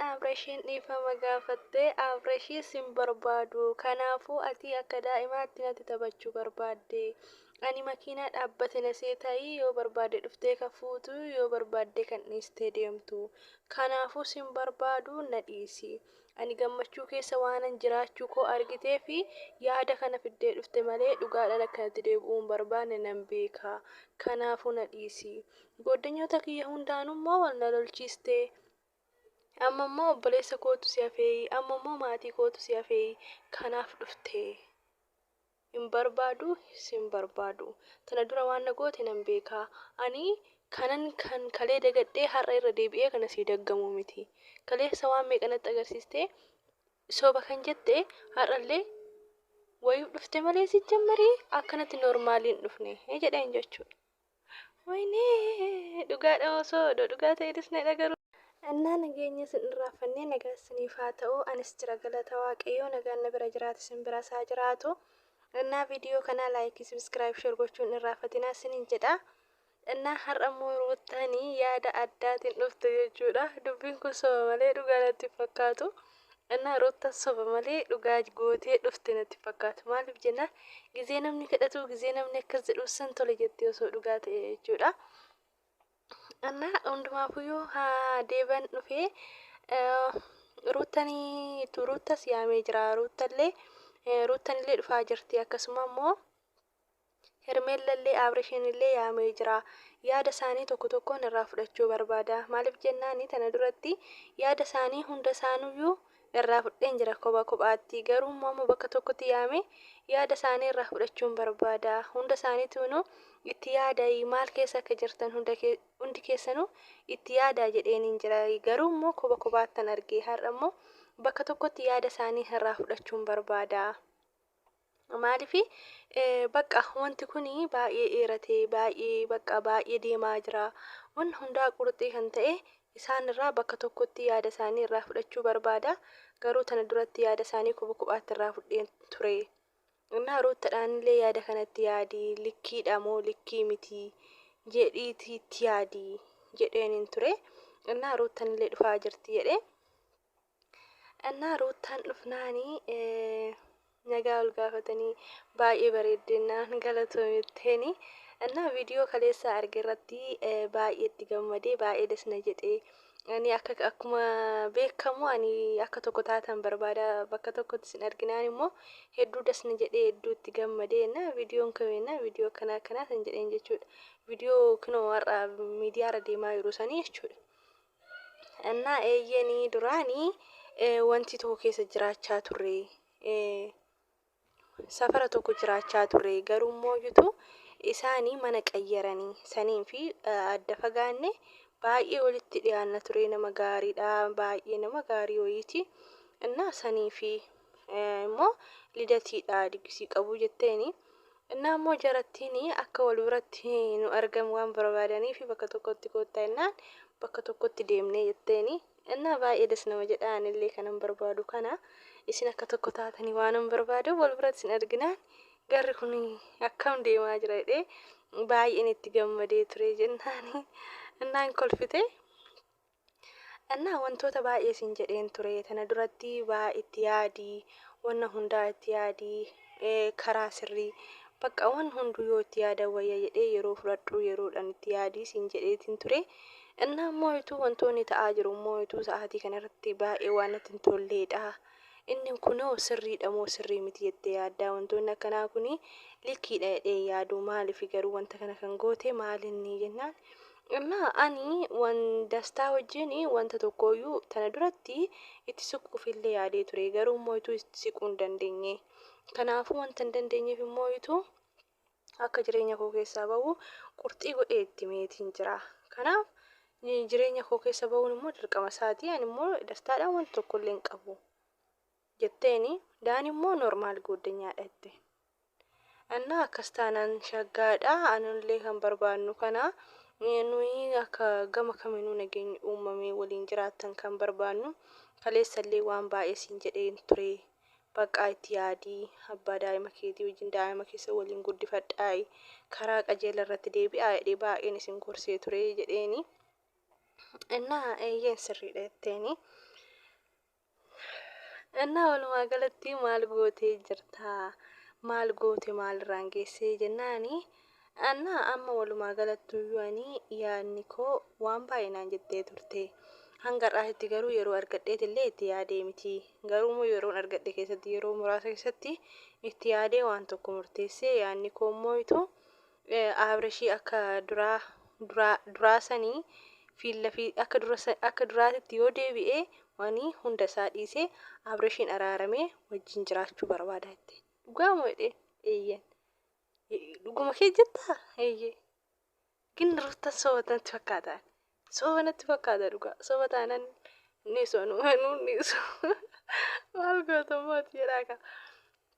Abreshiin dhiifama gaafatte Abreshii sin barbaadu kanaafuu atii akka daa'imaatti natti taphachuu barbaadde ani makiinaa dhaabbate na seetaayii yoo barbaadde dhuftee ka fuutu yoo barbaadde kan dhiistee deemtu kanaafuu sin barbaadu na dhiisi ani gammachuu keessa waanan jiraachuu koo argitee fi yaada kana fiddee dhufte malee dhugaadhaan akkanatti deebi'uu hin barbaanne nan beeka kanaafuu na dhiisi gooddanyoota kiyya hundaanuu immoo wal na lolchiiste Amma immoo obboleessa kootu si hafeeyi. Amma immoo maatii kootu si hafeeyi. Kanaaf dhufte. Hin barbaadu, sin barbaadu. Tana dura waan na goote nan beeka. Ani kanan kan kalee dagadhee har'a irra deebi'ee kana sii daggamu miti. Kaleessa waan meeqa natti agarsiistee soba kan jette har'allee wayif dhufte malee sijjammarii akkanatti normaaliin dhufne jedheen jechuudha. Waynee dhugaadha osoo odoo dhugaa ta'e dhisne dhagaru. Annaa nageenya isin irraafannee nagaa isiniif haa ta'uu anis jira galata waaqayyoo nagaan na bira jiraate isin biras haa jiraatu Annaa video kanaa like subscribe share gochuu hin irraafatinaa isinin jedha Annaa har'a immoo ruuttaani yaada addaatiin dhufte jechuudha dubbiin kun soba malee dhugaa natti hin fakkaatu Kadhannaa Ruuttan soba malee dhugaa gootee dhufte natti fakkaatu. Maaliif jennaan gizee namni kadhatu gizee namni akkas jedhu sin tole jettee osoo dhugaa ta'e jechuudha. Annaa hundumaafuyyuu haa deeban dhufee ruuttanii ruuttas yaamee jira ruuttallee ruuttanillee dhufaa jirti akkasuma immoo Hermeellallee Aabrishiinillee yaamee jira. Yaada isaanii tokko tokkoon irraa fudhachuu barbaada. Maaliif jennaani tana duratti yaada isaanii hunda isaanuyyuu irraa fudheen jira kopha kophaatti. Garuu immoo amma bakka tokkotti yaamee yaada isaanii irraa fudhachuun barbaada. Hunda isaaniituunuu itti yaadayi maal keessa akka jirtan hunda kee- hundi keessanuu itti yaadaa jedheeniin jira. Garuu immoo kopha kophaattan arge. Har'a immoo bakka tokkotti yaada isaanii irraa fudhachuun barbaada. Maaliif bakka wanti kun baay'ee dheeratee baay'ee bakka baay'ee deemaa jira. Wanni hundaa qurxii kan ta'e isaan irraa bakka tokkotti yaada isaanii irraa fudhachuu barbaada. Garuu tana duratti yaada isaanii kuba kubaatti irraa fudheen ture. Innaa ruuttadhaan illee yaada kanatti yaadi likkiidha moo likkii miti jedhiitii itti yaadi jedheen hin ture. Innaa ruuttan illee dhufaa jirti jedhee. Ennaa ruuttaan dhufnaani nagaa ol gaafatanii baay'ee bareeddennaan galatoomitteeni. Ennaa viidiyoo kaleessaa arge irratti baay'ee itti gammadee baay'ee das na jedhee. Ani akka akkuma beekamu ani akka tokko taatan barbaada bakka tokkotti sin arginaan immoo hedduu das na jedhee hedduu itti gammadee ennaa viidiyoon kame ennaa viidiyoo akkanaa akkanaa san jedheen jechuudha. Viidiyoo kunoo har'a miidiyaarra deemaa jiru sanii jechuudha. Ennaa eeyyeen duraanii wanti tokko keessa jiraachaa turre. Safara tokko jiraachaa turre garuu immoo iyyuu isaan mana qayyaranii saniin fi adda fagaanne baay'ee walitti dhiyaanna ture nama gaariidha baay'ee nama gaarii wayiiti. Innaa sanii fi immoo lidatiidha digisii qabu jetteeni. Ennaa immoo jarattiin akka wal biratti nu argan waan barbaadaniif bakka tokkotti koottaa ennaan bakka tokkotti deemnee jetteen. Ennaa baay'ee das nama jedha anillee kanan barbaadu kana isin akka tokko taatanii waanan barbaaduuf wal biratti isin arginaan garri kun akkam deemaa jira jedhee baay'een itti gammadee ture jennaan ennaan kolfite. Annaa wantoota baay'ee siin jedheen ture tana duratti baa itti yaadi wanna hundaa itti yaadi ee, karaa sirrii bakka wan hunduu yoo itti yaadan wayya jedhee yeroo fudhadhuu yeroodhan itti yaadii siin jedheetiin ture innaa immoo ituu wantoonni ta'aa jiru immoo ituu sa'aatii kana irratti baay'ee waan natti hin tolleedha inni kunoo sirriidha moo sirrii miti jettee yaaddaa wantoonni akkanaa kuni likkiidha jedhee yaaduu maaliif garuu wanta kana kan goote maalinni jennaan Amma ani wan dastaa wajjin wanta tokkooyyuu tana duratti itti siquufillee yaadee ture garuu immoo ituu itti siquu hin dandeenye kanaafuu wanta hin dandeenyeef immoo ituu akka jireenya koo keessaa ba'u qurxii godhee itti meetiin jira kanaaf ni- jireenya koo keessa ba'uun immoo dirqama isaati ani immoo dastaadhaan wanta tokkollee hin qabu jetteeni daan immoo normaal gooddanyaadha jette Ennaa akkas taanaan shaggaadha. Anullee kan barbaannu kana. Nuyi akka gama kaminuu nageenyi uumamee waliin jiraattan kan barbaannu. Kaleessallee waan baay'ee siin jedheen ture. Baqqaa itti yaadi. Abbaa daa'ima keetii wajjin daa'ima keessa waliin guddifadhaa'i. Karaa qajeela irratti deebi'aa jedhee baay'een isin gorsee ture jedheeni. Ennaa eeyyeen sirriidha jetteeni. Ennaa walumaa galatti maal gootee jirta? Maal goote maalirraan geessee jennaani? Annaa amma walumaa galattuyyuu ani yaadni koo waan baay'ee naan jettee turte. Hanga har'aatitti garuu yeroo argadheeti illee itti yaadee miti. Garuu immoo yeroon argadhe keessatti yeroo muraasa keessatti itti yaadee waan tokko murteessee yaadni koo immoo ituu Abreshii akka duraa duraa duraa sanii fiilla fi akka dura akka duraatitti yoo deebi'e wani hunda isaa dhiisee Abreshiin araaramee wajjin jiraachuu barbaada jette dhugaa moo jedhee eeyyen dhuguma kee jettaa eeyye gin rutta soba tanatti fakkaataan soba natti fakkaata dhugaa soba taanan ni sonu manuu ni so maal gootomooti jedhaa kaa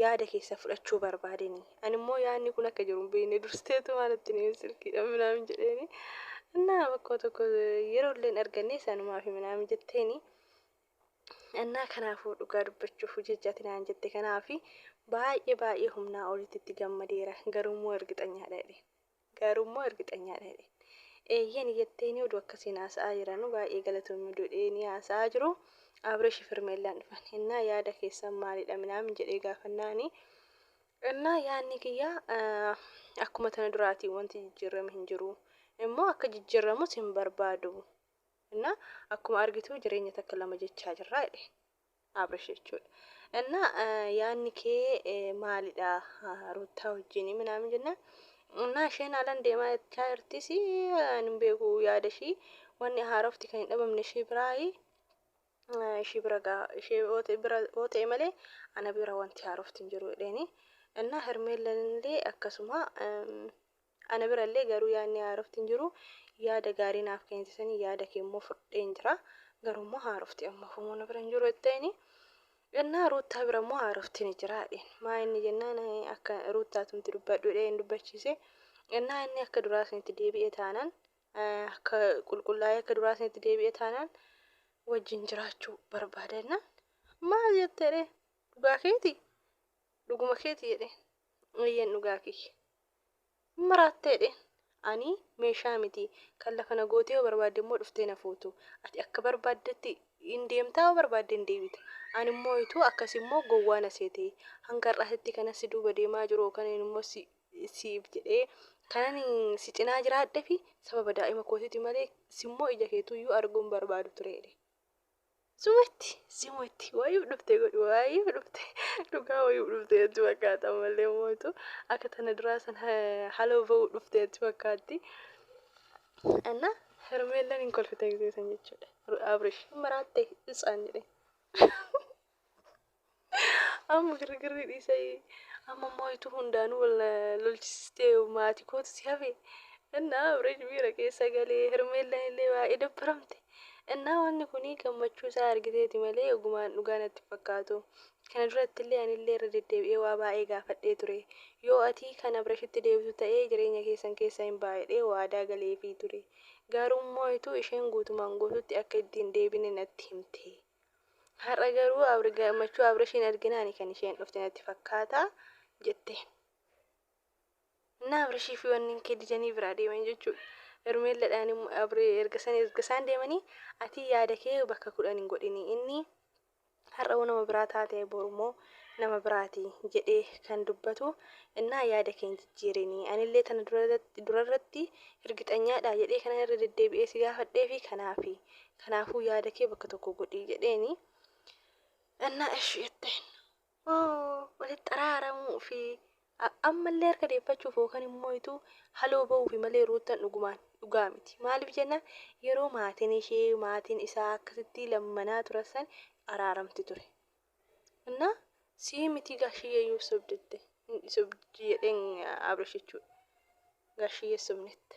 yaada keessan fudhachuu barbaadeni ani immoo yaadni kun akka jiru hin beekne durseetumaa natti hime silkiidhaan minaamin jedheeni annaa bakkoo tokko yeroo illeen arganne sanumaaf minaamin jetteeni annaa kanaafuu dhugaa dubbachuuf hojii hojjaati naan jette kanaafi baay'ee baay'ee humnaa olitti itti gammadeera garuu immoo ergixanyaadha jedhe Gaaruu immoo irgixanyaadha jedheen. Eeyyen jetteeni oduu akkasiin haasa'aa jiranu baay'ee galatoomi oduu jedheeni haasa'aa jiru Aabreshi Firmeellaan dhufan. Innaa yaada keessan maalidha minaamin jedhee gaafannaani. Innaa yaadni kiyya akkuma tana duraatii wanti jijjiirrame hin jiru. Immoo akka jijjiirramus hin barbaadu. Innaa akkuma argitu jireenya takka lama jechaa jirra jedheen. Abrish jechuudha. Innaa yaanni kee maalidha Ruuttaa wajjin minaamin jennaan innaa isheen haalan deemaa jechaa jirtis ani hin beeku yaada ishii wanni haarofti kan hin dhabamne ishii biraayi ishii bira gaa ishee yoo ta'e malee ana bira wanti haarofti hin jiru jedheeni. Innaa Hermeellan illee akkasuma Ana bira illee garuu yaadni haarofti hin jiru. Yaada gaarii naaf keente sanii yaada kee immoo fudheen jira. Garuu immoo haarofti ammaaf immoo na bira hin jiru jetteeni. Ennaa Ruuttaa bira immoo haarofti ni jira jedheen. Maa inni jennaan akka Ruuttaatumti dubbadhu jedhee hin dubbachiise. Ennaa inni akka duraa sanitti deebi'e taanaan akka qulqullaa'ee akka duraa sanitti deebi'e taanaan wajjin jiraachuu barbaada jennaan. Maal jette jedheen. Dhugaa keeti? Dhuguma keeti jedheen. Eeyyeen dhugaa kiyya. Hin maraatta jedheen. Ani meeshaa miti. Kan lafa na gootee yoo barbaadde immoo dhuftee na fuutu. Ati akka barbaaddetti hin deemta yoo barbaadde hin deebita. Ani immoo hituu akkasi immoo gowwaa na seete. Hanga har'aatitti kanan si duuba deemaa jiru yookaan immoo si siif jedhee kanan si cinaa jiraadhefi sababa daa'ima kootiiti malee si immoo ija keetuu iyyuu arguu hin barbaadu ture jedhe. Sumatti sumatti waayuu dhufte godhu waayuu dhufte dhugaa waayuu dhufte jetti fakkaata malee mootu akka tana duraa san haloo ba'uu dhufte jetti fakkaatti. Anna hermeellan hin kolfite gisee san jechuudha. Abrish maraatte isaan jedhe. Amma girgirri dhiisee amma immoo ituu hundaanuu wal na lolchisistee maatii kootu si hafe. Innaa Abreej miira keessa galee Hermeellaan illee baay'ee dabbaramte. Innaa wanni kun gammachuu isaa argiteeti malee ogumaan dhugaa natti hin fakkaatu. Kana duratti illee ani illee irra deddeebi'ee waa baay'ee gaafadhee ture. Yoo ati kan Abreeshitti deebitu ta'ee jireenya keessan keessa hin baay'ee waadaa galeefii ture. Garuu immoo ituu isheen guutumaan guututti akka itti hin deebine natti himte. Har'a garuu Abri gammachuu Abrishiin arginaani kan isheen dhufte natti fakkaata jetteen. Inni Abrishii fi wanni kee didanii biraa deeman jechuudha. Hermeelladhaan immoo Abri erga san erga isaan deemanii ati yaada kee bakka kudhan hin godhini inni har'a hoo nama biraa taate boru immoo nama biraati jedhee kan dubbatu innaa yaada kee hin jijjiirini anillee tana durarratti durarratti hirgixanyaadha jedhee kanan irra deddeebi'ee si gaafadhee fi kanaafi Kanaafuu yaada kee bakka tokko godhii jedheeni. Ennaa eshi jetteen oo walitti araaramuu fi a- ammallee harka deeffachuuf yookaan immoo ituu haloo ba'uufi malee ruuttan dhugumaan dhugaa miti. Maaliif jennaan yeroo maatiin ishee maatiin isaa akkasittii lammanaa turan san araaramti ture. Ennaa sii mitii gaashiyyee iyyuu sobdette hin sobdi jedheen Abrish jechuudha. Gaashiyyee sobnetti.